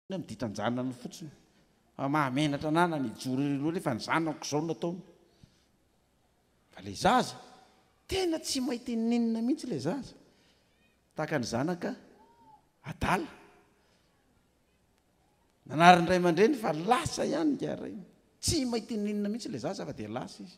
Inona no ditan-janany fotsiny? Fa mahamenatra anana ny hijoro irery hoe rehefa ny zanako izao no ataony. Fa ilay zaza, tena tsy mahay tenenina mihitsy ilay zaza. Tahaka ny zanaka adala. Nanarin'ny ray aman-dreny fa lasa ihany ingahy Rainy. Tsy mahay tenenina mihitsy ilay zaza fa dia lasa izy.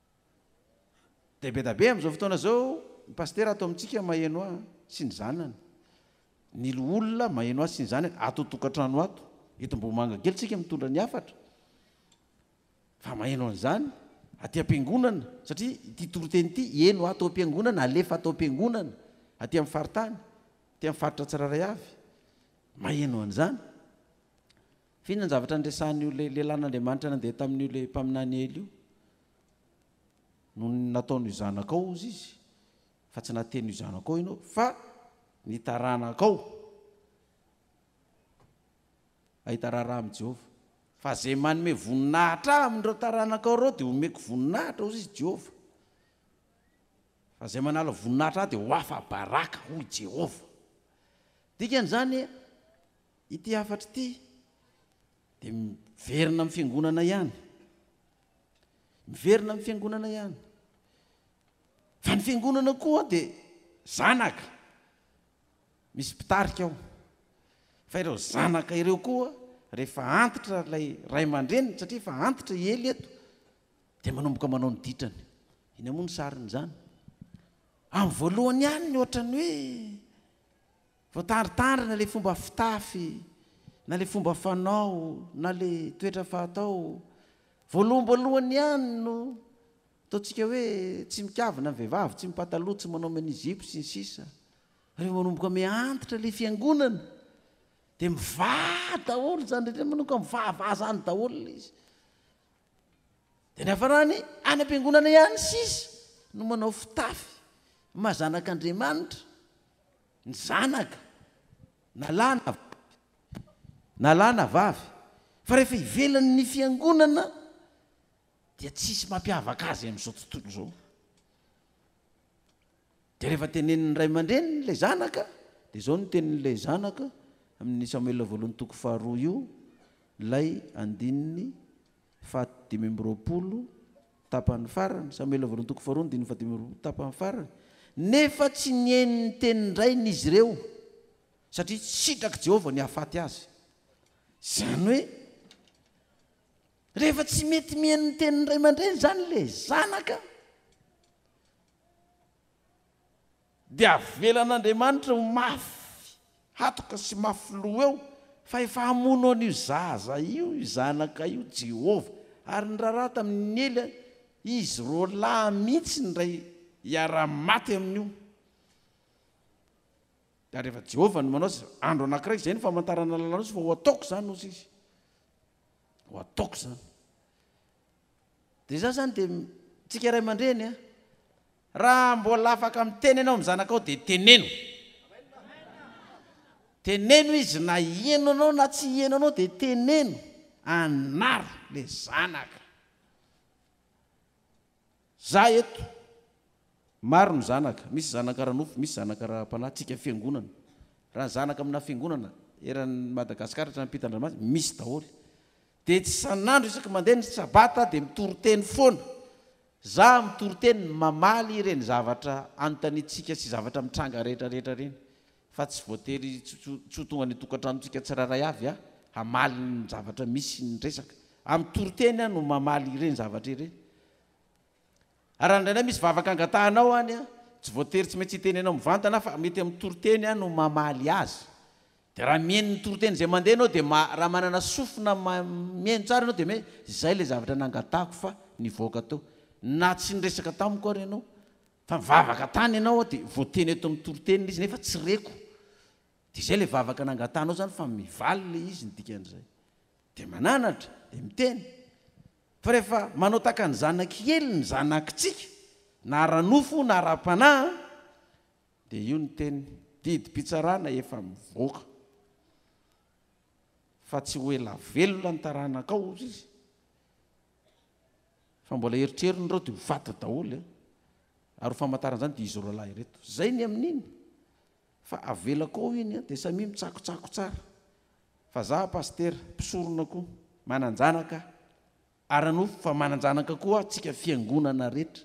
Dia be da be amin'izao fotoana izao ny pasitera ato amintsika maheno ahy sy ny zanany, ny loholona maheno ahy sy ny zanany ato an-tokantrano ato. Eto Ambohimanga kely isika mitondra ny hafatra fa maheno an'izany aty am-piangonana satria ity toriteny ity heno ato am-piangonana, alefa ato am-piangonana aty amin'ny faritany, aty amin'ny faritra tsirairay avy. Maheno an'izany. Vina ny zavatra niresahan'io lehilahin'Andriamanitra nandeha tamin'io le mpaminany Ely io, nony nataony ho zanakao hozy izy, fa tsy nateny ho zanakao ianao, fa ny taranakao hahita raharaha amin'i Jehovah. Fa izay manome voninahitra Ahy amin'ireo taranakao ireo, dia homeko voninahitra, hozy izy, Jehovah. Fa izay manala voninahitra Ahy dia ho afa-baraka, hoy Jehovah. Dikan'izany, Ity hafatra ity dia miverina amin'ny fiangonana ihany. Miverina amin'ny fiangonana ihany. Fa ny fiangonana koa dia zanaka. Misy mpitarika ao. Fa ireo zanaka ireo koa rehefa antitra ilay ray aman-dreniny satria efa antitra i Ely eto dia manomboka manao ny ditrany. Iny moa ny sarin'izany. Amin'ny voalohany ihany ny ohatran'ny hoe Voatandrintandrina le fomba fitafy na le fomba fanao na le toetra fahatao voaloham-boalohany ihany no ataontsika hoe tsy mikavina ny vehivavy, tsy mipataloha, tsy manao mini-jupe sy ny sisa. Rehefa manomboka mihantitra le fiangonana de mivaha daholo izany rehetra manomboka mivahaha zany daholo le izy. Dia niafarany any am-piangonana ihany sisa no manao fitafy maha zanak'Andriamanitra ny zanaka na lahy na vavy, na lahy na vavy, fa rehefa ivelan'ny fiangonana dia tsisy mampiavaka azy amin'izao tontolo izao. Dia rehefa tenenin'ny ray aman-dreniny ilay zanaka, dia izao no tenin'ilay zanaka, amin'ny Samoela voalohany toko faharoa io, ilay andininy fahadimy amby roapolo tapany farany, Samoela voalohany toko faharoa andininy fahadimy amby roapolo tapany farany, Nefa tsy nihaino ny tenin-drainy izy ireo, satria tsy sitrak'i Jehovah ny hahafaty azy. Izany hoe, rehefa tsy mety mihaino ny tenin'ny ray aman-dreny izany ilay zanaka, Dia avelan'Andriamanitra ho mafy hatoka sy mafy loha eo fa efa hamono an'io zaza io io zanaka io Jehovah, ary ny raharaha tamin'i Ela, izy roalahy mihitsy indray hiara-maty amin'io. Dia rehefa Jehovah no manao izay, andro anankiray, izay no famantarana lalàn'Osy fa ho ataoko izany Osy izy, ho ataoko izany. Dia izaho izany dia tsika ray aman-dreny an! Raha mbola afaka miteny ianao amin'ny zanakao dia teneno! Teneno izy na hiheno anao na tsy hiheno anao dia teneno! Anaro ilay zanaka! Za eto, maro ny zanaka, misy zanaka ara-nofo, misy zanaka ara-panahy, tsika fiangonana, raha ny zanaka amina fiangonana eran'ny Madagascar hatrany am-pitan-dranomasina, misy daholo. Dia tsy isan'andro isaky mandeha ny sabata dia mitoriteny foana za mitoriteny mamaly ireny zavatra anontaniantsika sy zavatra mitranga rehetra rehetra ireny fa tsy voatery tsy ho tonga ny tokantranontsika tsirairay avy aho hamaly ny zavatra misy ny resaka amin'ny toriteny aho no mamaly ireny zavatra ireny raha indraindray misy vavaka angatahanao any aho tsy voatery tsy maintsy hiteny anao mivantana fa mety amin'ny toriteny aho no mamaly azy Dia raha mihaino ny toriteny izay mandeha ianao dia ma, raha manana sofina ma, mihaino tsara ianao dia miha, izay ilay zavatra nangatahako fa nivoaka teo. Na tsy niresaka tamiko ary ianao, fa nivavaka tany ianao aho dia voateny eto amin'ny toriteny ilay izy nefa tsy reko. Dia izay ilay vavaka nangatahanao izany fa mivaly ilay izy ny dikan'izay. Dia mananatra, dia miteny. Fa rehefa manao tahaka ny zanak'i Ely ny zanakitsika, na ara-nofo na ara-panahy an, Dia io ny teny, didim-pitsarana efa mivoaka fa tsy ho ela velona ny taranakao hozy izy fa mbola eritreriny ireo dia ho faty daholo e ary ho famantarana izany dia izy roa lahy ireto zay ny amin'iny fa avelako ao iny dia samia mitsakotsako tsara fa za pastera mpisorona koa manan-janaka Ara-nofo fa manan-janaka koa antsika fiangonana rehetra.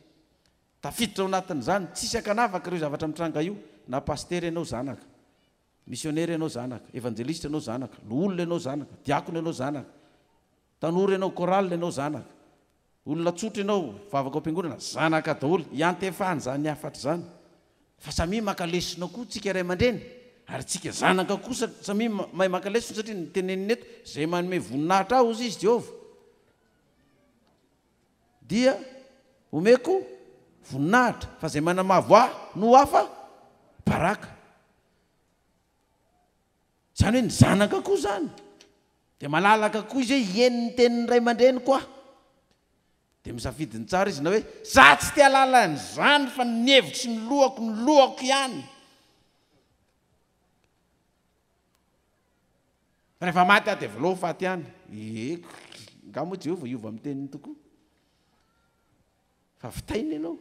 Tafiditra ao anatin'izany, tsisy ankanavaka ireo zavatra mitranga io, na pasitera ianao zanaka, misionera ianao zanaka, evanjelisitra ianao zanaka, loholona ianao zanaka, diakona ianao zanaka, tanora ianao chorale ianao zanaka, olona tsotra ianao, vavaka ao am-piangonana, zanaka daholo, iantefan'izany hafatra izany, Fa samia maka lesona koa tsika ray aman-dreny ary tsika zanaka koa sa samia mahay maka lesona satria ny teneniny eto izay manome voninahitra ahy hozy izy Jehovah dia omeko voninahitra fa izay manamavo ahy no ho afa baraka. Izany hoe ny zanaka koa izany dia malalaka koa izy hoe hieny ny tenin'ny ray aman-dreniko aho. Dia misafidy ny tsara izy na hoe za tsy te halala an'izany fa ny hevitro sy ny lohako no lohako ihany. Rehefa maty aho dia avelao ho faty ihany. Eko, nga moa Jehovah hiova amin'ny teniny tokoa? Fa vitaina ianao.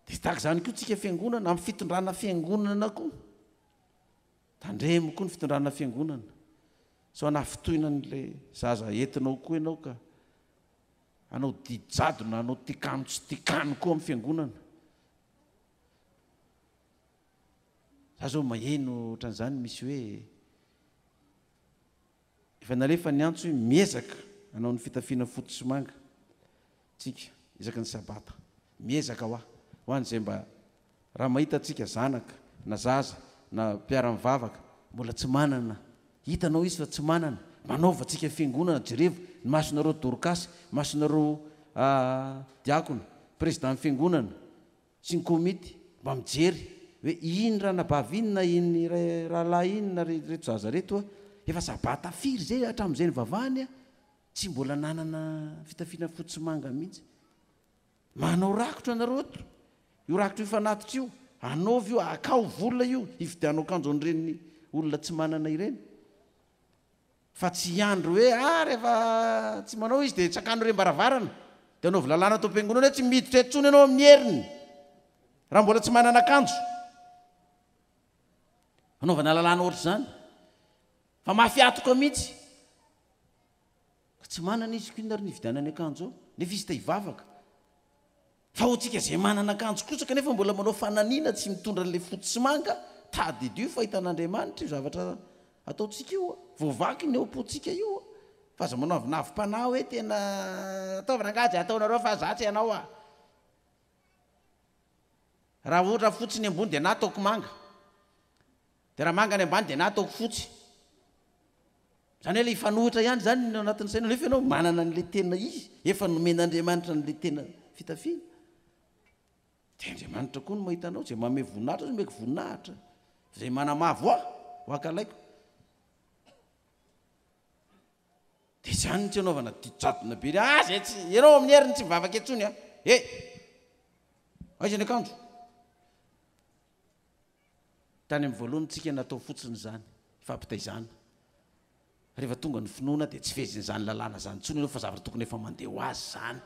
Dia tahaka izany koa tsika fiangonana amin'ny fitondrana fiangonana koa. Tandremo koa ny fitondrana fiangonana. Sao hanafintohina an'ilay zaza entinao koa ianao ka hanao didy jadona, hanao tikanon tsy tikanon koa amin'ny fiangonana. Za zao maheno ohatran'izany misy hoe efa nalefa ny antso hoe miezaka hanao ny fitafiana fotsy sy manga. Tsika, isaky ny sabata. Miezaka hoa, ho an'izay mba, raha mahita antsika zanaka, na zaza, na mpiara-mivavaka, mbola tsy manana, hitanao izy fa tsy manana, manaova antsika fiangonana, jerevo, ny masonareo dorkasy, masonareo diakona, prezidany fiangonana, sy ny komity, mba mijery, hoe iny ranabavy iny, na iny rahalahy iny, na reto zaza reto, efa sabata firy zay, hatramin'izay nivavahany, Tsy mbola nanana fitafiana fotsy sy manga mihitsy. Manao rakotra ianareo eto. Io rakotra io fanatitra io, anaovy io, akao vola io hividianao akanjo an'ireny olona tsy manana ireny. Fa tsy hiandry hoe a rehefa tsy manao izy dia tsakano ireny varavarana, dia anaovy lalàna ato am-piangonana hoe tsy miditra eto intsony ianao amin'ny heriny raha mbola tsy manana akanjo. Anaovana lalàna ohatr'izany. Fa mafy atoka mihitsy. Ka tsy manana izy kin ary ny hividianany akanjo ao. Nefa izy te hivavaka. Fa ho antsika izay manana akanjo kosa kanefa mbola manao fananina tsy mitondra an'ilay fotsy sy manga, tadidio fa hitan'Andriamanitra io zavatra ataontsika io a! Voavaky ny ao am-pontsika io a! Fa aza manao avinavi-panahy hoe tena ataovy rangahy izay ataonareo fa za tsy hanao a! Raha ohatra fotsy ny ambony dia na ataoko manga. Dia raha manga ny ambany dia na ataoko fotsy. Izany hoe ilay hifanohitra ihany izany no anatin'ny sainao nefa ianao manana an'ilay tena izy, efa nomen'Andriamanitra an'ilay tena fitafiana. Dia Andriamanitra koa no mahita anao, izay manome voninahitra azy omeko voninahitra, izay manamavo ahy ho ankalaiko. Dia izany tsy anaovana didy jadona be, ah zay tsy, ianao amin'ny heriny tsy mivavaka intsony ah, eh, aiza ny akanjo? Tany amin'ny voalohany tsika natao fotsiny izany fampitaizana. Rehefa tonga ny finoana dia tsy fehezin'izany lalàna izany intsony ianao fa zavatra tokony efa mandeha ho azy izany.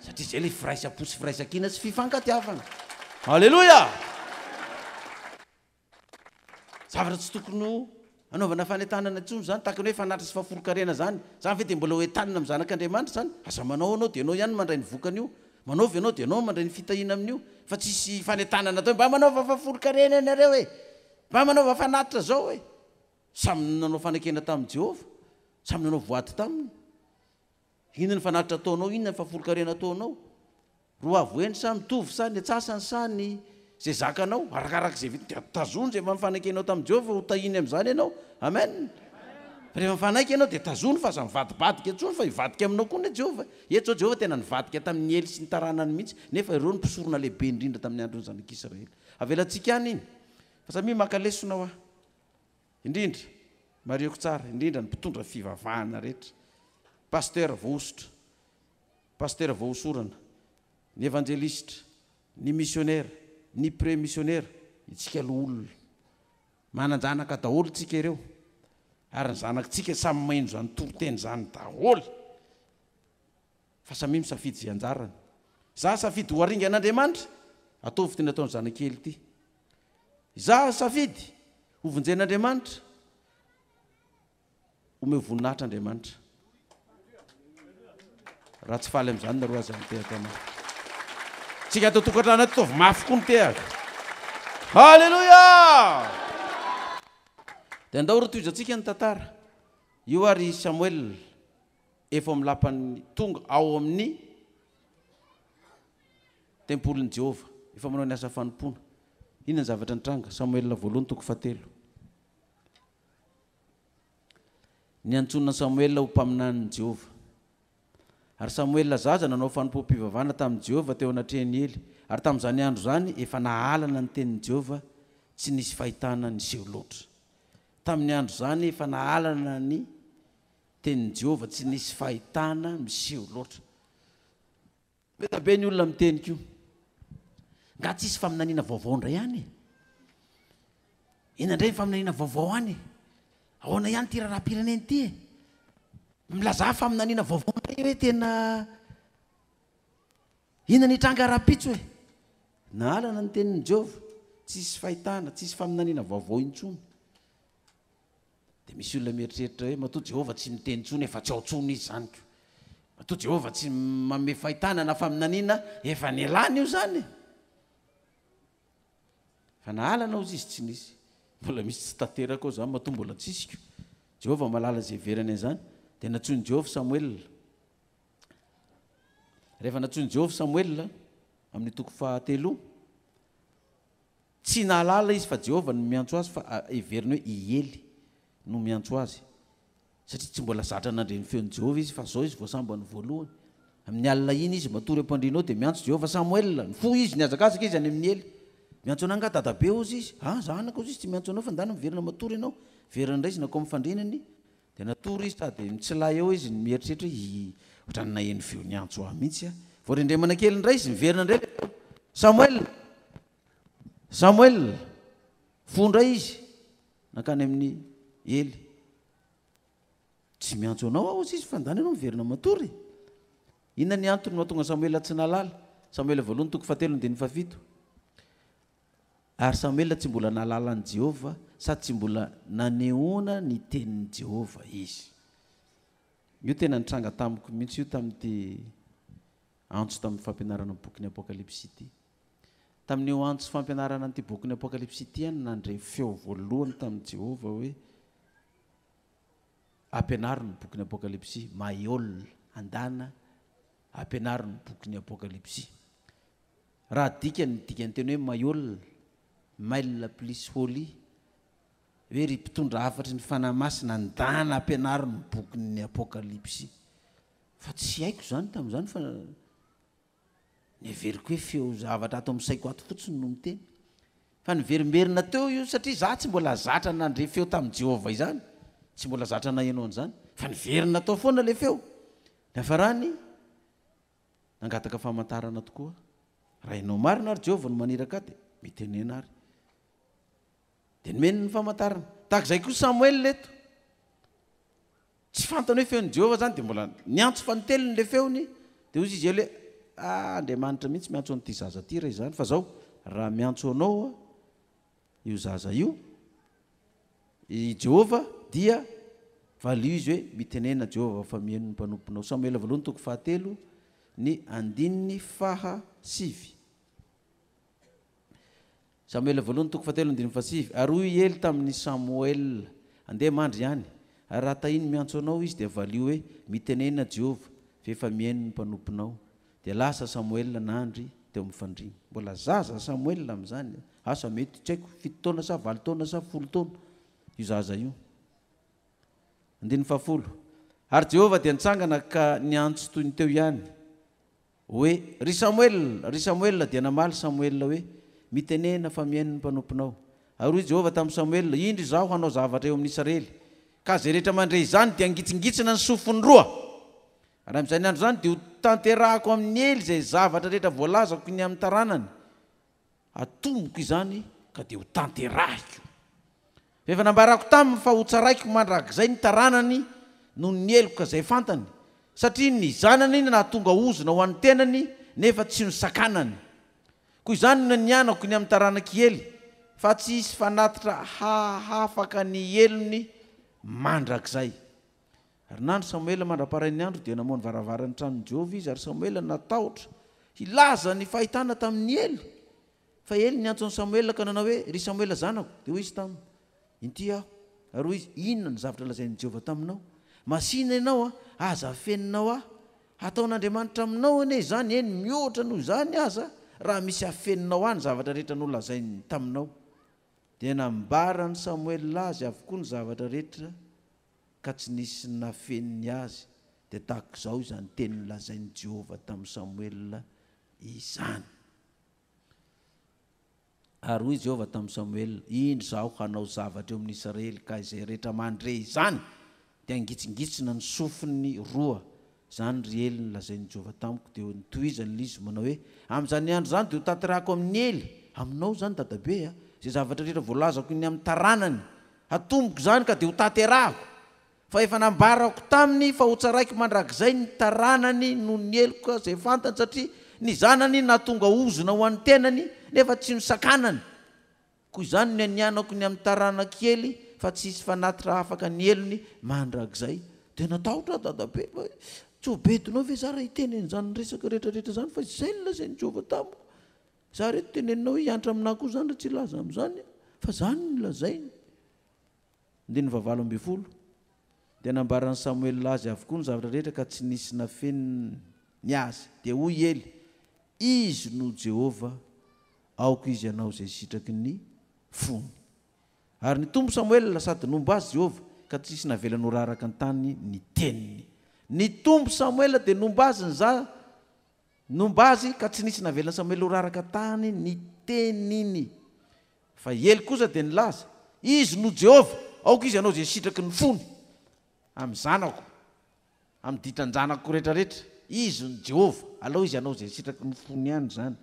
Satria izay ilay firaisam-po sy firaisan-kina sy fifankatiavana. Aleloia! Zavatra tsy tokony ho Anaovana fanentanana intsony zany, tahaka ny hoe fanatitra sy fahaforokarena zany, zany ve dia mbola ho entanina amin'ny zanak'Andriamanitra zany? Aza manao anao dia anao ihany no mandray ny vokany io, manao ve anao dia anao no mandray ny fitahiana amin'io, fa tsisy fanentanana atao hoe mba manaova fahaforokarena ianareo e! mba manaova fanatitra zao e! samy nanao fanekena tamin'i Jehovah, samy nanao voady taminy. Inona ny fanatitra ataonao, inona ny fafolkarena ataonao. Roavo eny sa mitovy sa ny atsasany sa ny izay zakanao, arakaraka izay vitanao. Dia tazono izay efa nifanaikenao tamin'i Jehovah ho tahiny amin'izany ianao. Amen. Fa rehefa mifanaiky ianao dia tazono fa aza mivadibadika intsony fa hivadika aminao koa anie Jehovah. Eto izao Jehovah tena nivadika tamin'i Ely sy ny taranany mihitsy, nefa ireo no mpisorona lehibe indrindra tamin'ny andron'ny zanak'Israely. Avelantsika any iny. Fa samia maka lesona hoa. Indrindra, marihiko tsara, indrindra ny mpitondra fivavahana rehetra, Pasteur voahosotra, Pasteur voahosorana, ny Evanjelisitra, ny Misionera, ny Pre Misionera, itsika loholona. Manan-janaka daholo tsika ireo, ary ny zanakitsika samy maheno izany toriteny izany daholo. Fa samia misafidy izay anjarany. Izaho safidy ho aringan'Andriamanitra, ataovy ity nataon'ny zanakely ity. Izaho safidy ho vonjen'Andriamanitra, omeo voninahitra Andriamanitra. Raha tsy faly amin'izany nareo aza mitehaka mafy. Tsika ato tokantrano ato taovy mafy koa mitehaka. Haleloia! Dia andao ry tohizantsika ny tantara. Io ary Samuel Efa amin'ny lapan'ny tonga ao amin'ny tempolin'i Jehovah. Efa manao ny asa fanompoana. Inona ny zavatra nitranga? Samoela voalohany toko fahatelo. Niantsoana Samoela ho mpaminanin'i Jehovah. Ary Samoela zaza nanao fanompoam-pivavahana tamin'i Jehovah teo anatrehan'i Ely. Ary tamin'izany andro izany, efa nahalana ny tenin'i Jehovah, tsy nisy fahitana niseho loatra. Tamin'ny andro izany, efa nahalana ny. Tenin'i Jehovah tsy nisy fahitana miseho loatra. Be dia be ny olona miteny koa. Nga tsy hisy faminaniana vaovao indray any e? Inona indray ny faminaniana vaovao any e? Ahoana ihany ity raharaham-pirenena ity e? Milazà faminaniana vaovao indray hoe tena inona ny hitranga rahampitso e? Nahalana ny tenin'i Jehovah, tsy hisy fahitana, tsy hisy faminaniana vaovao intsony. Dia misy olona mieritreritra hoe, Matoa Jehovah tsy miteny intsony, efa tsy ao intsony izy izany ko. Matoa Jehovah tsy manome fahitana na faminaniana, efa nialany io izany e! Fa na halana hozy izy tsy nisy. Mbola misy tsy tanteraka ao izany, matoa mbola tsisy ko. Jehovah mahalala izay heverany an'izany. Dia nantsoin'i Jehovah Samoela. Rehefa nantsoin'i Jehovah Samoela, amin'ny toko fahatelo, Tsy nahalala izy fa Jehovah no miantso azy fa heveriny hoe i Ely no miantso azy, satria tsy mbola zatra nandre ny feon'i Jehovah izy, fa izao izy vao sambany voalohany. Amin'ny alina iny izy matory am-pandriana eo, dia miantso Jehovah, Samoela! Nifoha izy, nihazakazaka izy any amin'i Ely. Miantso anà angaha dadabe, hozy izy. Aa, zanako, hozy izy, tsy miantso anao fa ndana miverina matory ianao. Very indray izy nankao amin'ny fandrianany, dia natory izy. Sady mitsilay eo izy, mieritreritra hoe, Hi, hoatran'ny naheno feo niantso ahy mihitsy aho. Voarendremana kely indray izy, niverina indray ilay feo, Samoela! Samoel, fony indray izy nankany amin'i Ely. Tsy miantso anao aho, hozy izy, fa ndany ianao miverina matory. Inona ny antony mahatonga Samoel tsy nahalala? Samoela voalohany toko fahatelo ny diny fahafito. Ary Samoela tsy mbola nahalala an'i Jehovah sady tsy mbola nanehoana ny tenin'i Jehovah izy. Io tena nitranga tamiko mihitsy io tamin'ity antso tamin'ny fampianarana ny bokin'ny Apokalypsy ity. Tamin'io antso fampianarana an'ity bokin'ny Apokalypsy ity ihany no nandre feo voalohany tamin'i Jehovah hoe, Ampianaro ny bokin'ny Apokalypsy. Maiol, Andana, Ampianaro ny bokin'ny Apokalypsy. Raha adika ny dikanteny hoe Maiol, Mail plus Holy, hoe ry mpitondra hafatry ny Fanahy Masina, andana ampianaro ny bokin'ny Apokalypsy. Fa tsy haiko izany tamin'izany fa Ny heveriko hoe feo zavatra ato amin'ny saiko ato fotsiny no miteny. Fa niverimberina teo io satria izaho tsy mbola zatra nandre feo tamin'i Jehovah izany. Tsy mbola zatra naheno an'izany. Fa niverina tao foana ilay feo. Niafarany, nangataka famantarana tokoa. Raha ianao marina ary Jehovah no maniraka ahy, dia mitenena àry. Dia nomeny ny famantarana. Tahaka izay koa Samoela eto. Tsy fantany hoe feon'i Jehovah izany, dia mbola niantso fanintelony ilay feony, dia hoy izy ela hoe, A, Andriamanitra mihitsy miantso an'ity zaza ity raha izany, fa izao, raha miantso anao io zaza io i Jehovah, dia valio izy hoe, Mitenena Jehovah fa miheno ny mpanomponao. Samoela voalohany toko fahatelo, ny andininy faha sivy. Samoela voalohany toko fahatelo andininy fahasivy Ary hoy i Ely tamin' i Samoela, Andeha mandry ihany, ary raha tahiny miantso anao izy, dia valio hoe, Mitenena Jehovah, fa efa mihaino ny mpanomponao. Dia lasa Samoela nandry teo amin' ny fandriana. Mbola zaza Samoela amin' izany, asa mety, tsy haiko, fito taona sa valo taona sa folo taona, io zaza io. Andininy fahafolo Ary Jehovah dia nitsangana ka niantso toy ny teo ihany, Hoe, Ry Samoela! Ry Samoela! Dia namaly Samoela hoe, Mitenena, fa mihaino ny mpanomponao. Ary hoy Jehovah tamin'i Samoela, Indro izaho hanao zavatra eo amin'ny Isarely. Ka izay rehetra mandre izany dia hangitsingitsina ny sofiny roa. Ary amin'izany andro izany dia hotanterahako amin'i Ely izay zavatra rehetra voalazako ny amin'ny taranany. Atomboko izany ka dia ho tanterahiko. Fa efa nambarako taminy fa hotsaraiko mandrakizay ny taranany noho ny heloka izay fantany, satria ny zanany no nahatonga ozona ho an'ny tenany nefa tsy nosakanany. Koa izany no nianako ny amin'ny taranak'i Hely, fa tsy hisy fanatitra hahafaka ny helony mandrakizay. Ary nandry Samoela mandra-parain'ny andro, dia namoha ny varavaran'ny tranon'i Jehovah izy, ary Samoela natahotra hilaza ny fahitana tamin'i Ely. Fa Ely niantso an'i Samoela ka nanao hoe, Ry Samoela zanako. Dia hoy izy taminy, Inty aho. Ary hoy izy, Inona no zavatra lazain'i Jehovah taminao? Masìna ianao, aza afeninao ahy. Hataon'Andriamanitra aminao anie izany, eny, mihoatra noho izany aza, raha misy afeninao ahy ny zavatra rehetra nolazainy taminao. Dia nambaran'i Samoela azy avokoa ny zavatra rehetra ka tsy nisy nafeny ny azy, dia tahaka izao izany teny nolazain'i Jehovah tamin'i Samoela izany. Ary hoy Jehovah tamin'i Samoela, Indro izaho hanao zavatra eo amin'ny Israely, ka izay rehetra mandre izany dia hangitsingitsina ny sofiny roa Izany ry Ely no lazain'i Jehovah tamiko, dia notohizan'ilay izy manao hoe, Amin'izany andro izany dia hotanterahako amin'i Ely, aminao izany dadabe a, izay zavatra rehetra voalazako ny amin'ny taranany, hatomboko izany ka dia hotanterahako, fa efa nambarako taminy fa hotsaraiko mandrakizay ny taranany noho ny heloka izay fantany, satria ny zanany nahatonga ozona ho an'ny tenany, nefa tsy nosakanany. Koa izany no anianako ny amin'ny taranako kely fa tsy hisy fanatitra hahafaka ny helony mandrakizay. Dia natahotra aho dadabe fa hoe, Tsy ho bedonao ve izaho raha hiteny an'izany resaka rehetrarehetra izany fa izay no lazain'i Jehovah tamiko? Izaho re toa teneninao hoe hiantra aminà koa izany raha tsy hilaza amin'izany aho fa izany no lazainy. Andininy fahavalo ambin'ny folo, Dia nambaran'i Samoela azy avokoa ny zavatra rehetra ka tsy nisy nafeniny ny azy. Dia hoy i Ely, Izy no Jehovah, aoka izy hanao izay sitraky ny fony. Ary nitombo Samoela sady nomba azy Jehovah, ka tsy nisy navelany ho raraka an-tany ny teniny. Nitombo Samoela dia nomba azy ny za, nomba azy, ka tsy nisy navelan'i Samoela ho raraka an-tany ny teniny. Fa i Ely kosa dia nilaza, Izy no Jehovah, aoka izy hanao izay sitraky ny fony amin'ny zanako, amin'ny ditran-janako rehetrarehetra. Izy no Jehovah, alao izy hanao izay sitraky ny fony ihany izany.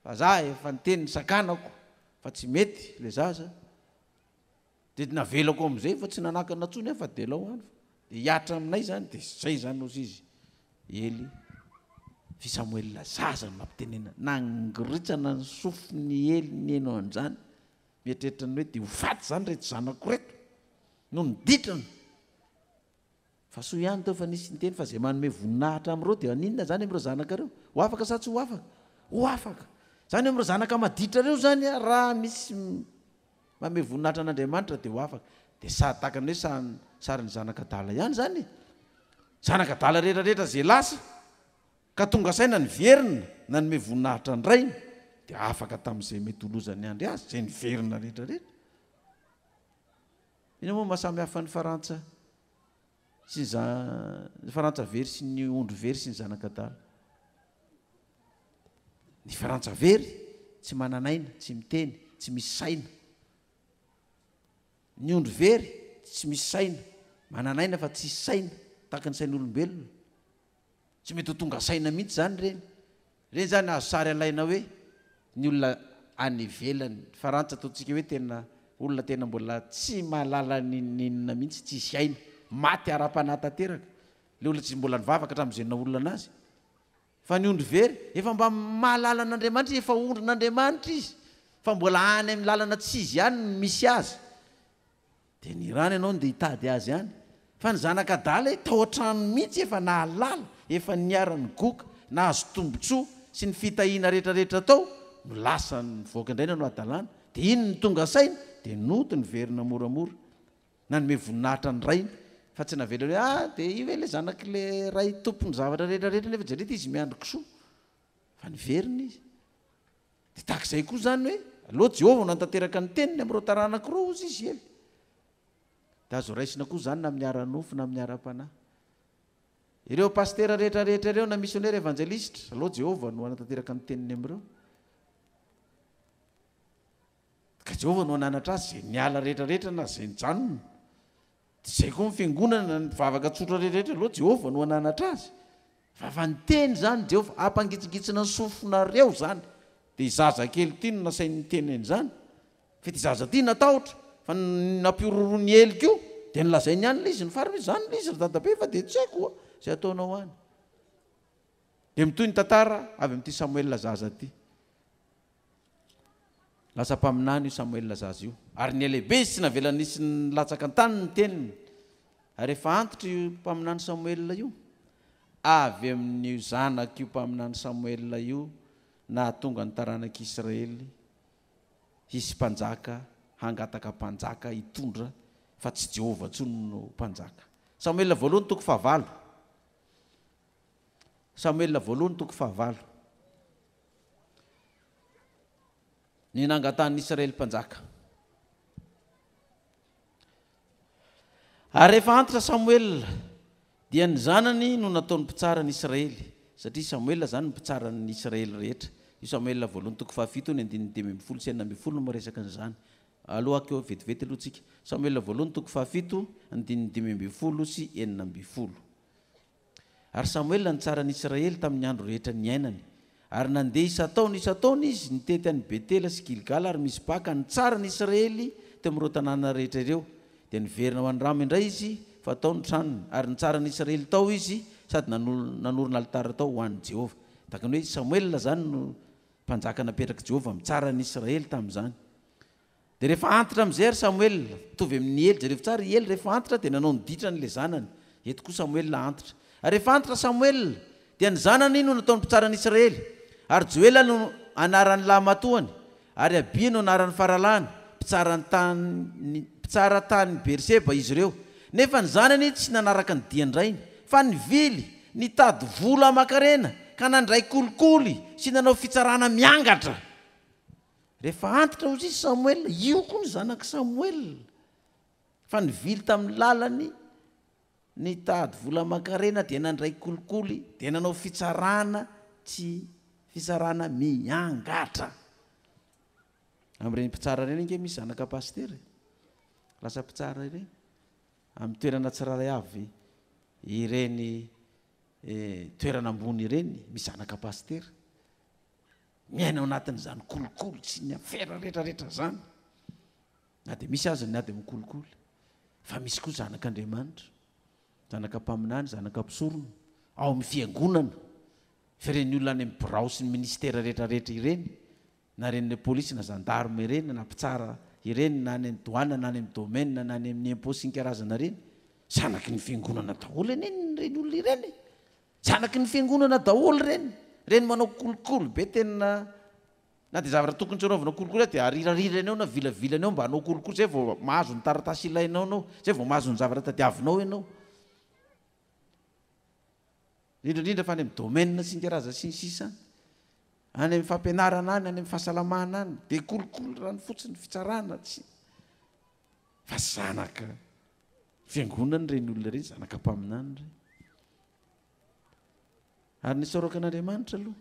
Fa izaho efa niteny ny sakanako fa tsy mety ilay zaza. Dia navelako amin'izay fa tsy nanakana intsony aho fa dia lao any fa dia hiatra aminay izany dia izay izany ozy izy Ely f'i Samoela zaza no nampitenenana. Nangoritsana ny sofin'i Ely nihaino an'izany mieritreritra ny hoe dia ho faty izany ireto zanako ireto no niditra ny Fa soa ihany teo fa nisy niteny fa izay manome voninahitra amin'ireo dia haninona izany amin'ireo zanakareo? Ho afaka sa tsy ho afaka? Ho afaka! Izany hoe amin'ireo zanaka maditrareo izany aho raha misy manome voninahitra an'Andriamanitra dia ho afaka. Dia sary tahaka ny hoe sary sarin'ny zanaka adala ihany izany e! Zanaka adala rehetra rehetra izay lasa ka tonga saina niverina nanome voninahitra ny rainy dia afaka tamin'izay mety ho lozan'ny andry azy, izay niverina rehetra rehetra. Inona moa no mahasamy hafa ny farantsa sy ny za ny farantsa very sy ny ondry very sy ny zanak'adala ny farantsa very tsy manan'aina tsy miteny tsy misy saina ny ondry very tsy misy saina manan'aina fa tsisy saina tahaka ny sain'olombelona Tsy mety ho tonga saina mihitsy izany ireny. Ireny izany azo sary alaina hoe ny olona any ivelany. Farantsa ataontsika hoe tena olona tena mbola tsy mahalala ny n'inona mihitsy, tsisy aina. Maty ara-panahy tanteraka ilay olona tsy mbola nivavaka hatramin'izay naolana azy. Fa ny ondry very efa mba mahalala an'Andriamanitra izy, efa ondrin'Andriamanitra izy fa mbola any amin'ny lalana tsy izy ihany no misy azy. Dia ny rano ianao no dia hitady azy any. Fa ny zanak'adala e, tao an-tranony mihitsy efa nahalala, efa niharan'ny goka, nahazo tombontsoa, sy ny fitahiana rehetrarehetra tao, no lasa nivoaka indray nanao hadalana. Dia iny no tonga saina, dia nody niverina moramora. Nanome voninahitra ny rainy, fa tsy navela hoe, ah, dia io ve ilay zanak'ilay ray tompon'ny zavatra rehetrarehetra, nefa jereo ity izy miandry kisoa. Fa niverina izy. Dia tahaka izay koa izany hoe aleo Jehovah no hanatanteraka ny teniny amin'ireo taranako ireo, hozy izy ela. Dia azo raisina koa izany na amin'ny ara-nofo na amin'ny ara-panahy. Ireo pasitera rehetra rehetra ireo na misionera evanjelistra, aleo Jehovah no hanatanteraka ny teniny amin'ireo. Ka Jehovah no hananatra azy izay niala rehetra rehetra na izay nijanona. Tsy izay koa ny fiangonana na ny mpivavaka tsotra rehetrarehetra aloha, Jehovah no hananatra azy. Vava niteny izany Jehovah, hampangitsingitsina ny sofinareo izany. Dia i zaza kely ity no nasainy niteny an'izany. Fa ity zaza ity natahotra, fa ny nampihorohoro ny ely koa, dia nolazainy ihany ilay izy nifarana hoe, Izany ilay izy ry dadabe, fa dia tsy haiko izay hataonao any. Dia mitohy ny tantara avy amin'ity Samoela zaza ity. Lasa mpaminany io Samoela zaza io, ary nihalehibe izy tsy navela nisy nilatsaka an-tany ny teniny. Ary efa antitra io mpaminany Samoela io, avy amin'io zanak'io mpaminany Samoela io nahatonga ny taranak'i Israely hisy mpanjaka hangataka mpanjaka hitondra fa tsy Jehovah intsony no mpanjaka. Samoela voalohany toko fahavalo. Samoela voalohany toko fahavalo Ny nangatahan'i Israely mpanjaka Ary rehefa antitra Samoela dia ny zanany no nataony mpitsara an'i Israely, satria Samoela izany no mpitsara an'ny Israely rehetra. Io Samoela voalohany toko fahafito io ny andininy dimy ambin'ny folo sy enina ambin'ny folo no miresaka an'izany. Aloha akeo vetivety aloha tsika. Samoela voalohany toko fahafito andininy dimy ambin'ny folo sy enina ambin'ny folo. Ary Samoela nitsara an'i Israely tamin'ny andro rehetra niainany. Ary nandeha isan-taona isan-taona izy, nitety an'i Betela sy Gilgala ary Mizpa, ka nitsara an'i Israely teo amin'ireo tanàna rehetra ireo. Dia niverina ho any Rama indray izy, fa tao ny tranony, ary nitsara an'i Israely tao izy, sady nanorina alitara tao ho an'i Jehovah. Tahaka ny hoe Samoela izany no mpanjaka napetrak'i Jehovah mitsara an'i Israely tamin'izany. Dia rehefa antitra amin'izay ry Samoela, mitovy amin'i Ely, jereo tsara, i Ely rehefa antitra dia nanao ny ditrany ilay zanany, eto koa Samoela antitra. Ary rehefa antitra Samoela, dia ny zanany no nataony mpitsara an'Israely, ary Joela no anaran'ny lahimatoany, ary Abia no anaran'ny faralahiny, mpitsara tany mpitsara tany Beerseba izy ireo. Nefa ny zanany tsy nanaraka ny dian-drainy, fa nivily, nitady vola aman-karena, ka nandray kolikoly sy nanao fitsarana miangatra. Rehefa antitra hozy i Samoela, io koa ny zanak'i Samoela, fa nivily tamin'ny lalany, nitady vola aman-karena, dia nandray kolikoly, dia nanao fitsarana tsy fitsarana miangatra. Amin'ireny mpitsara ireny ange misy zanaka pasitera e. Lasa mpitsara ireny. Amin'ny toerana tsirairay avy ireny eh, toerana ambony ireny, misy zanaka pasitera. Miaina ao anatin'izany kolikoly sy ny afera rehetrarehetra izany, na dia misy aza ny ady amin-kolikoly, fa misy koa zanak'Andriamanitra, zanaka mpaminany, zanaka mpisorona, ao amin'ny fiangonana, fa ireny olona any amin'ny birao sy ny ministera rehetrarehetra ireny, na ireny polisy na zandarme ireny na mpitsara ireny na any amin'ny douane na any amin'ny domaine na any amin'ny impôt sy ny karazana ireny, zanaky ny fiangonana daholo anie ireny olona ireny e! Zanaky ny fiangonana daholo ireny, ireny manao kolikoly be tena na dia zavatra tokony tsy anaovana kolikoly aza dia arirarirany ao na vilavilany ao mba hanao kolikoly izay vao mahazo ny taratasy ilainao ianao, izay vao mahazo ny zavatra tadiavinao ianao. Indrindra indrindra fa any amin'ny domaine singa raza sy ny sisa any. Any amin'ny fampianarana any, any amin'ny fahasalamana any dia kolikoly rano fotsiny, fitsarana, tsy. Fa zanaka Fiangonana ireny olona ireny, zanaka mpaminany ireny. Ary ny saroka an'Andriamanitra aloha,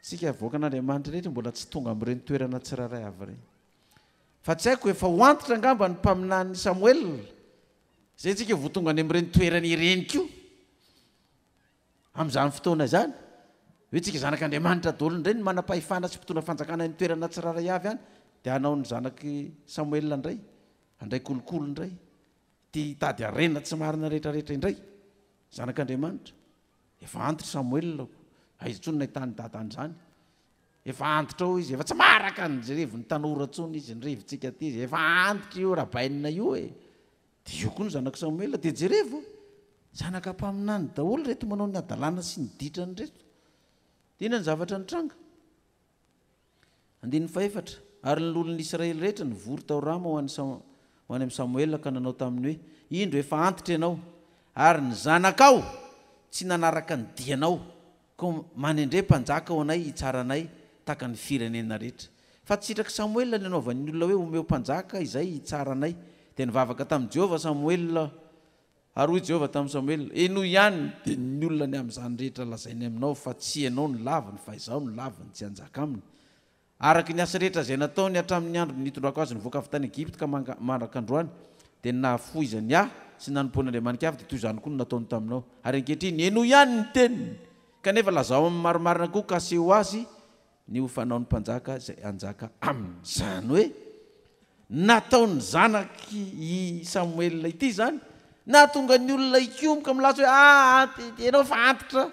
tsika avoaka an'Andriamanitra rehetra mbola tsy tonga amin'ireny toerana tsirairay avy ireny. Fa tsy haiko efa ho antitra angamba ny mpaminan'ny Samoel, izay tsika vao tonga any amin'ireny toerana ireny koa. Amin'izany fotoana izany, hoe tsika zanak'Andriamanitra daholo indray ny manam-pahefana sy mpitondra fanjakana any toerana tsirairay avy any, dia hanao ny zanak'i Samoel indray. Handray kolikoly indray, tia hitady harena tsy marina rehetrarehetra indray, zanak'Andriamanitra. Efa antitra Samoela ô, aiza intsony no nahitany dada an'izany? Efa antitra ao izy, efa tsy maharaka ny revin'ny tanora intsony izy, ny revintsika aty izy, efa antitra io rabainina io e! Dia io koa ny zanak'i Samoela, dia jerevo, zanaka mpaminany daholo ireto manao ny hadalana sy ny ditrany ireto. Dia inona ny zavatra nitranga? Andininy fahefatra, Ary ny lolon'ny Israely rehetra nivory tao Rama ho any ho any amin'i Samoela ka nanao taminy hoe, Indro, efa antitra ianao, ary ny zanakao tsy nanaraka ny dianao, koa manendre mpanjaka ho anay hitsara anay tahaka ny firenena rehetra. Fa tsy sitrak'i Samoela ny hanaovany ny olona hoe, Omeo mpanjaka izay hitsara anay. Dia nivavaka tamin'i Jehovah Samoela Ary hoy Jehovah tamin'i Samoela, Henoy ihany, dia ny olona ny amin'izany rehetra lazainy aminao, fa tsy ianao no laviny, fa Izaho no laviny, tsy hanjaka aminy. Araka ny asa rehetra izay nataony hatramin'ny andro nitondrako azy nivoaka avy tany Egypta ka mandraka androany, dia ny nahafoizany Ahy sy ny nanompoany andriamani-kafa, dia toy izany koa no nataony taminao. Ary ankehitriny, henoy ihany ny teniny, kanefa lazao aminy marimarina koa ka aseho azy Ny ho fanaon'ny mpanjaka izay hanjaka aminy. Izany hoe nataon'ny zanak'i Samoela ity izany nahatonga ny olona hikomoka milaza hoe, ah, ianao fa antitra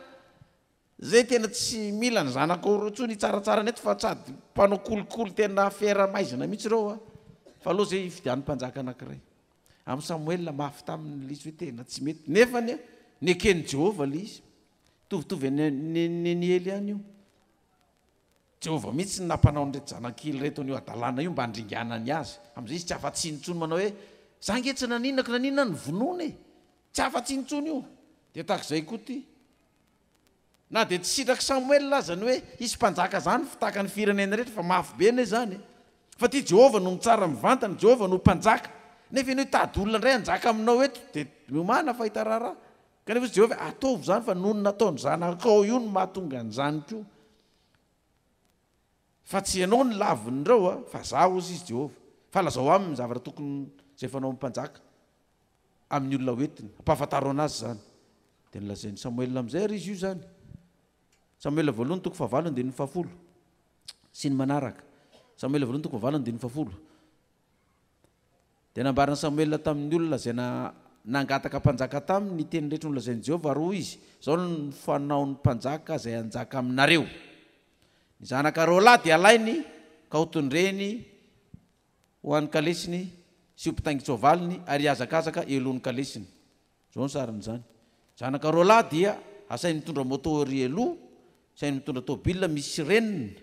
izay tena tsy mila ny zanakao ireo intsony hitsaratsarana eto fa sady mpanao kolikoly tena fiera maizina mihitsy ireo an! Fa aleo izay hifidiany mpanjaka anankiray. Amin'i Samoela mafy taminy ilay izy hoe tena tsy mety, nefa anie neken'i Jehovah ilay izy. Mitovitovy an' nen'i Ely ihany io. Jehovah mihitsy no nampanao an'ireto zanankely ireto an'io hadalana io mba handringanany azy. Amin'izay izy tsy afa-tsy intsony manao hoe, Izaho ange tsy naninako na n'inona ny vonoana e! Tsy afa-tsy intsony io. Dia tahaka izay koa ity. Na dia tsy sitrak'i Samoela aza ny hoe hisy mpanjaka izany ho mpitaka ny firenena rehetra, fa mafy be anie izany e! Fa ity Jehovah no mitsara mivantana, i Jehovah no Mpanjaka. Nefa ianao hitady olona indray hanjaka aminao eto, dia miomàna fahita raharaha. Kanefa hoy Jehovah, Ataovy izany, fa noho ny nataon'ny zanakao io no mahatonga an'izany koa. Fa tsy ianao no lavin'ireo, fa Izaho, hoy izy, Jehovah. Fa lazao aminy ny zavatra tokony izay fanaon'ny mpanjaka amin'ny olona hoentiny, hampahafantaro anazy izany. Dia nolazain'i Samoela amin'izay àry izy io izany. Samoela voalohany toko fahavalo andininy fahafolo sy ny manaraka. Samoela voalohany toko fahavalo andininy fahafolo Dia nambaran'i Samoela tamin'ny olona izay nangataka mpanjaka taminy ny teny rehetra nolazain'i Jehovah, ary hoy izy, Izao no fanaon'ny mpanjaka izay hanjaka aminareo, Ny zanaka roalahy dia halainy ka hotondreny ho an'ny kalesiny sy ho mpitaingin-tsoavaliny, ary hihazakazaka eo alohan'ny kalesiny. Izao ny sarin'izany, Ny zanaka roalahy dia hasainy mitondra moto ery aloha, hasainy mitondra tôbilina misy sirenina,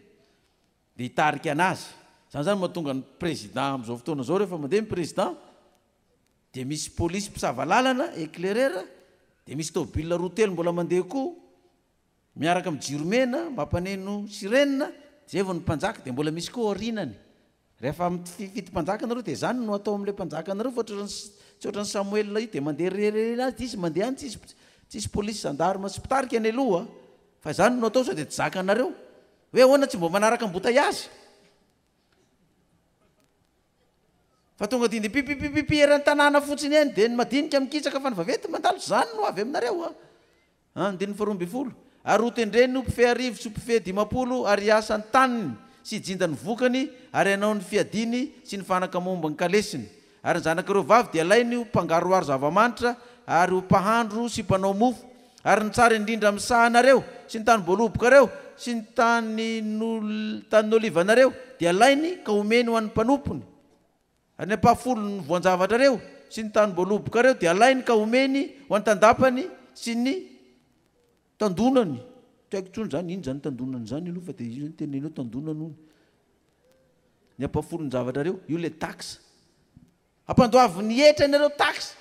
dia hitarika anazy zany zany mahatonga ny président amzao fotoana zao rehefa mandeha ny président dia misy police mpisava lalana éclaireur dia misy tôbila roa telo mbola mandeha koa miaraka amin'ny jiro mena mampaneno sirene zay vao ny mpanjaka dia mbola misy koa aorinany rehefa mifidy mpanjaka nareo dia zany no atao amle mpanjaka nareo fa otrany tsy otrany samoel io dia mandeha rerere azy dia izy mandeha any tsisy tsisy police gendarme sy mpitarika any aloha fa zany no atao sao dia tsy zakanareo Hoe ahoana tsy mba manaraka am-botay azy? Fa tonga dia dia pipipipipi eran'ny tanàna fotsiny eny dia ny madinika mikisaka fa ny vaventy mandalo izany no avy aminareo a. Ah. Andininy faharoa ambin'ny folo. Ary hotendreny ho mpifehy arivo sy ho mpifehy dimampolo ary hiasa ny taniny sy hijinja ny vokany ary hanao ny fiadiany sy ny fanaka momba ny kalesiny. Ary ny zanak'ireo vavy dia alainy ho mpangaroharo zava-manitra ary ho mpahandro sy mpanao mofo, ary ny tsara indrindra amin'ny sahanareo, sy ny tanim-boalobokareo, sy ny tanin'olivanareo dia alainy ka omeny ho an'ny mpanompony, ary ny ampahafolon'ny voan-javatrareo sy ny tanim-boalobokareo dia alainy ka omeny ho an'ny tandapany sy ny. Tandonany, tsy haiko intsony izany inona izany tandonany izany aloha fa dia io izany teneninao tandonany hono ny ampahafolon-javatrareo, io ilay taxe. Ampandoavy ny hetra ianareo taxe,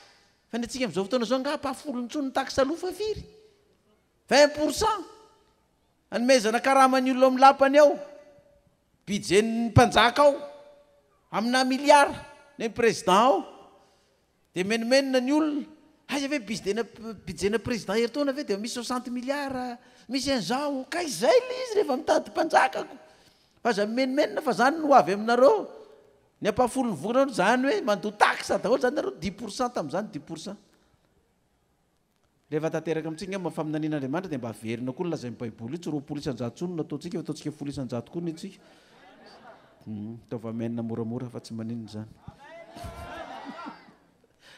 fa ny antsika amin'izao fotoana izao angaha ampahafolo intsony ny taxe aloha fa firy? Vingt pour cent? Anomezana karaman'ny olona ao amin'ny lapany ao, budget-n'ny mpanjaka ao, aminà milliards, ny an'ny président ao. Dia menomenona ny olona, aiza ve bizden budget-na président herintaona ve dia misy soixante milliards, misy an'izao, ka izay ilay izy rehefa mitady mpanjakako, aza mimenomenona fa izany no ho avy aminareo, ny ampahafolon'ny volanareo, izany hoe mandoa taxe daholo izany nareo, dix pour cent tamin'izany, dix pour cent. Rehefa tanteraka amintsika angamba ny faminaniana Andriamanitra dia mba averina koa ny lazain'ny baiboly io, tsy roapolo isan-jato intsony no nataontsika fa ataontsika folo isan-jato koa ny antsika. Hmm, ataovy amen moramora fa tsy maninona izany.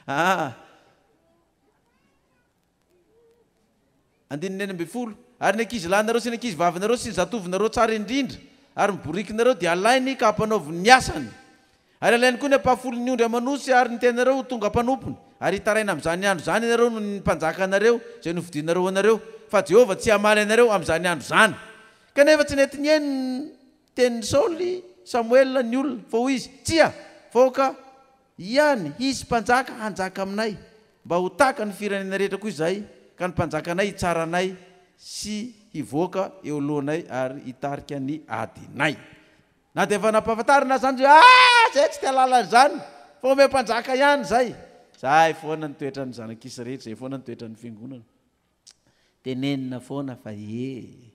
Ah. Andininy enina ambin'ny folo. Ary ny ankizy lahinareo sy ny ankizy vavinareo sy ny zatovinareo tsara indrindra ary ny borikinareo dia alainy ka hampanaoviny ny asany. Ary alainy koa ny ampahafolon'ny ondry aman'osy ary ny tenanareo ho tonga mpanompony, ary hitaraina amin'izany andro izany ianareo noho ny mpanjaka anareo izay nofidinareo ho anareo, fa Jehovah tsy hamaly anareo amin'izany andro izany. Kanefa tsy nety nihaino ny tenin'i Saoly, Samoela, ny olona, fa hoy izy, Tsia, fa aoka ihany hisy mpanjaka hanjaka aminay, mba ho tahaka ny firenena rehetra koa izahay, ka ny mpanjakanay hitsara anay sy hivoaka eo alohanay ary hitarika ny adinay. Na dia efa nampahafantarina azany hoe aah zay tsy te halala an'izany fa omeo mpanjaka ihany izay. Izay foana ny toetran'ny zanak'isy rehetra, izay foana ny toetran'ny fiangonana. Tenenina foana fa ee.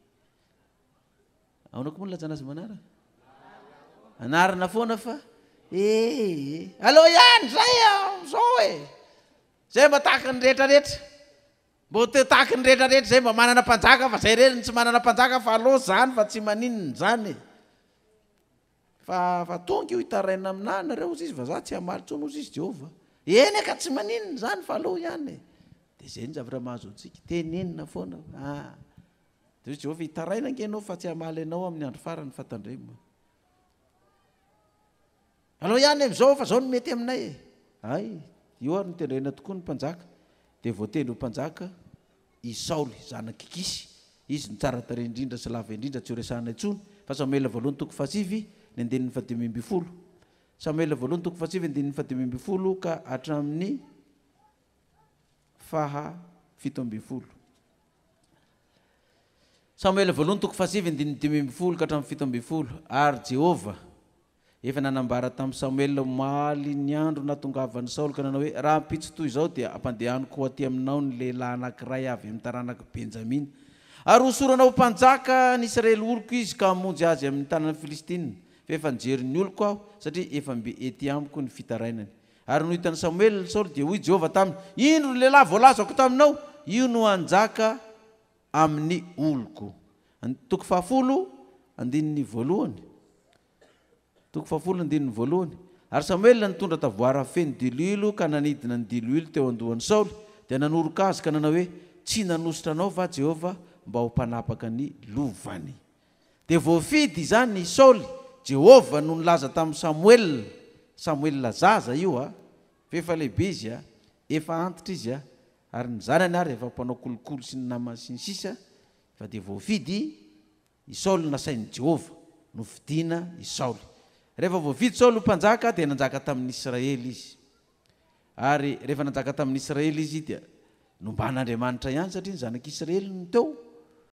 Ahoana koa moa ny ilazana azy manaraka? Anarina foana fa ee. Aleo ihany izay amin'izao e. Izay mba tahaka ny rehetrarehetra. Mba ho teo tahaky ny rehetra rehetra izay mba manana mpanjaka fa izay irery no tsy manana mpanjaka fa allo izany fa tsy maninona izany e! Fa fa tonga io hitaraina aminà nareo hozy izy fa za tsy hamaly intsony hozy izy Jehovah. Eny aka tsy maninona izany fa allo ihany e! Dia izay ny zavatra mahazo antsika, tenenina foana fa ah! Dia hozy Jehovah hitaraina ange ianao fa tsy hamaly anao amin'ny andro farany fa tandremo. Alao ihany amizao fa zao no mety aminay e! Hay, io ary no tendrena tokoa ny mpanjaka, dia voatendry ho mpanjaka i Saoly zanak'i Kisy, izy no tsara tarehy indrindra sy lava indrindra tsy ho resahana intsony, fa Samoela voalohany toko fahasivy ny andininy fahadimy ambin'ny folo Samoela voalohany toko fahasivy andininy fahadimy ambin'ny folo ka hatramin'ny faha fito ambin'ny folo. Samoela voalohany toko fahasivy andininy dimy ambin'ny folo ka hatramin'ny fito ambin'ny folo Ary Jehovah Efa nanambara tamin'i Samoela omaly ny andro nahatongavan'i Saoly ka nanao hoe, Rahampitso toy izao dia hampandehaniko ho atỳ aminao ny lehilahy anankiray avy amin'ny taranak'i Benjamina, ary hosorana ho mpanjaka ny Israely oloko izy ka hamonjy azy amin'ny tanan'ny Filistinina, fa efa nijery ny oloko aho, satria efa mbe etỳ amiko ny fitarainany. Ary noho hitan'i Samoela Saoly, dia hoy Jehovah taminy, Indro ny lehilahy voalazako taminao, io no hanjaka amin'ny oloko. And. Toko fahafolo andininy voalohany Toko fahafolo andininy voalohany Ary Samoela nitondra tavoara feno diloilo ka nanidina ny diloilo teo an-dohan'i Saoly, dia nanoroka azy ka nanao hoe, Tsy nanosotra anao va Jehovah mba ho mpanapaka ny lovany? Dia voafidy izany i Saoly, Jehovah no nilaza tamin'i Samoela, Samoela zaza io a, f'efa lehibe izy a, efa antitra izy a, Ary ny zanany ary efa mpanao kolikoly sy ny namany sy ny sisa Fa dia voafidy i Saoly Nasain'i Jehovah nofidiana i Saoly Rehefa voafidy Saoly ho mpanjaka dia nanjaka tamin'ny Israely izy Ary rehefa nanjaka tamin'ny Israely izy dia nomban'Andriamanitra ihany satria ny zanak'Israely no teo